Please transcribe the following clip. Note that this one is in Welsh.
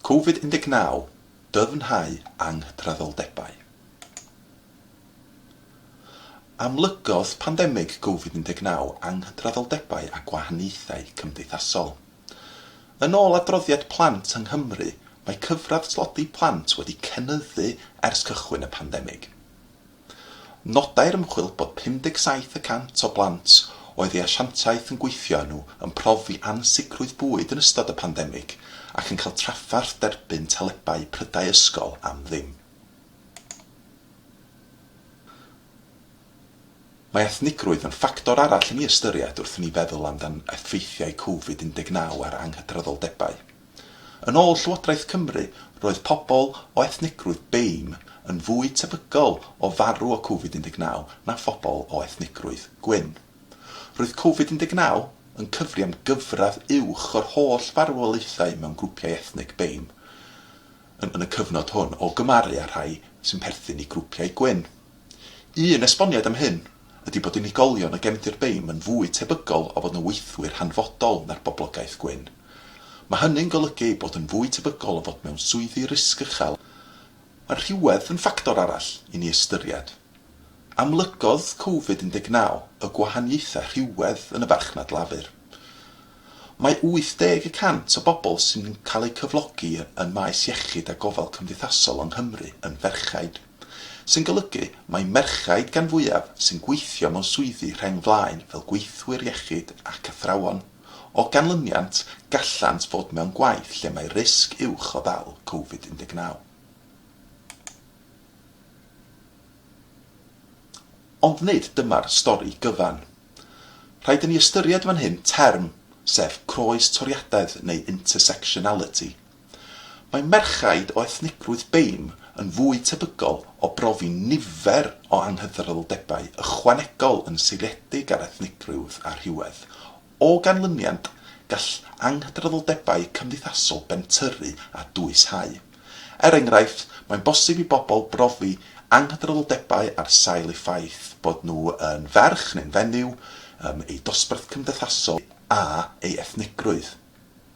Covid 19, Dyfnhau Anghydraddoldebau Amlygodd pandemig Covid 19 anghydraddoldebau a gwahaniaethau cymdeithasol. Yn ôl adroddiad Plant yng Nghymru, mae cyfradd tlodi plant wedi cynyddu ers cychwyn y pandemig. Nodai'r ymchwil bod 57 y cant o blant oedd ei asiantaeth yn gweithio â nhw yn profi ansicrwydd bwyd yn ystod y pandemig ac yn cael trafferth derbyn telebau prydau ysgol am ddim. Mae ethnigrwydd yn ffactor arall i ni ystyried wrth i ni feddwl amdan effeithiau Covid 19 ar anghydraddoldebau. Yn ôl Llywodraeth Cymru, roedd pobol o ethnigrwydd BAME yn fwy tebygol o farw o Covid 19 na phobol o ethnigrwydd gwyn. Roedd Covid 19 yn cyfri am gyfradd uwch o'r holl farwolaethau mewn grwpiau ethnig BAME yn y cyfnod hwn o gymaru â rhai sy'n perthyn i grwpiau gwyn. Un esboniad am hyn ydi bod unigolion o gefndir BAME yn fwy tebygol o fod yn weithwyr hanfodol na'r boblogaeth gwyn. Mae hynny'n golygu eu bod yn fwy tebygol o fod mewn swyddi risg uchel. Mae rhywedd yn ffactor arall i ni ystyried. Amlygodd Covid 19 y gwahaniaethau rhywedd yn y farchnad lafur. Mae 80 y cant o bobl sy'n cael eu cyflogi yn maes iechyd a gofal cymdeithasol yng Nghymru yn ferched. sy'n golygu mai merchaid gan fwyaf sy'n gweithio mewn swyddi rheng flaen fel gweithwyr iechyd ac athrawon. O ganlyniant, gallant fod mewn gwaith lle mae risg uwch o ddal Covid 19. Ond nid dyma'r stori gyfan. Rhaid i ni ystyried fan hyn term, sef croes toriadaeth neu intersectionality, Mae merchaid o ethnigrwydd Beim yn fwy tebygol o brofi nifer o anghydraddoldebau ychwanegol yn seiliedig ar ethnigrwydd a rhywedd. O ganlyniad, gall anghydraddoldebau cymdeithasol bentyrru a dwyshau. Er enghraifft, mae'n bosib i bobl brofi anghydraddoldebau ar sail eu ffaith bod nhw yn ferch neu'n fenyw, eu dosbarth cymdeithasol, a eu ethnigrwydd.